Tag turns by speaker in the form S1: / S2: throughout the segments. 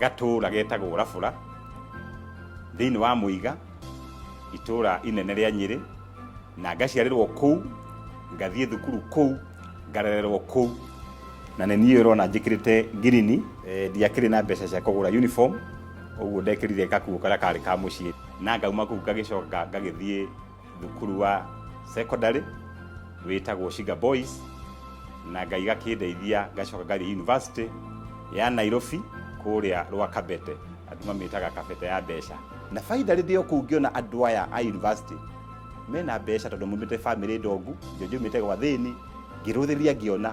S1: Gatũũra getagwo Rafũra, thĩinĩ wa Mũiga, itũũra inene rĩa Nyĩrĩ, na ngaciarĩrwo kũu, ngathiĩ thukuru kũu, ngarererwo kũu. Na nĩ niĩ ũrona njĩkĩrĩte ngirini, ndiakĩrĩ na mbeca cia kũgũra uniform, ũguo ndekĩrire gakuo karĩa karĩ ka mũciĩ. Na ngauma kũu ngagĩcoka ngagĩthiĩ. thukuru wa secondary wĩtagwo Shiga Boys na Ngai gakĩndeithia ngacoka ngathiĩ university ya Nairobi kũrĩa rwa Kabete andũ mamĩtaga Kabete ya mbeca na baida rĩndĩ o kũu ngĩona andũ aya a university mena mbeca tondũ mumĩte famĩlĩ ndongu ndio njumĩte gwa thĩni ngĩrũthĩria ngĩona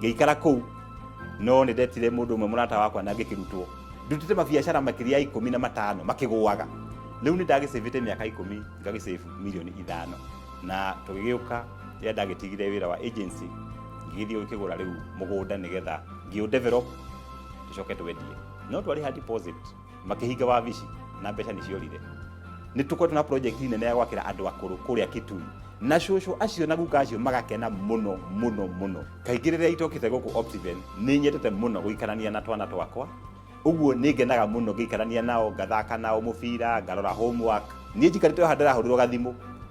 S1: ngĩikara kũu no nĩ ndetire mũndũ ũmwe mũrata wakwa na ngĩkĩrutwo ndutĩte mabiacara makĩria ya ikũmi na matano makĩgũaga rĩu nĩ ndagĩcĩvĩte mĩaka ikũmi ngagĩcĩvu milioni ithano na tũgĩgĩũka rĩrĩa ndagĩtigire wĩra wa agency ngĩgĩthiĩ gũkĩgũra rĩu mũgũnda nĩgetha ngĩũ develop tũcoke twendie no twarĩha deposit makĩhinga wabici na mbeca nĩ ciorire nĩ tũkoretwo na project nene ya gwakĩra andũ akũrũ kũrĩa kitui na cũcũ acio na guka acio magakena mũno mũno mũno kaingĩ rĩrĩa itokĩte gũkũ optiven nĩ nyetete mũno gũikarania na twana twakwa ũguo nĩ ngenaga mũno ngĩikarania nao ngathaka nao mũbira ngarora homework niĩ njikarĩte haha ndĩrahũrĩrwo gathimũ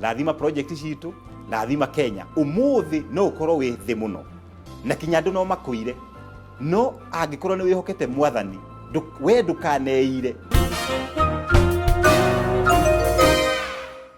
S1: rathima project citũ rathima kenya umuthi no ukorwo wi thi muno na kinya andu no makuire no angikorwo ni wihokete mwathani ndu- we ndukaneire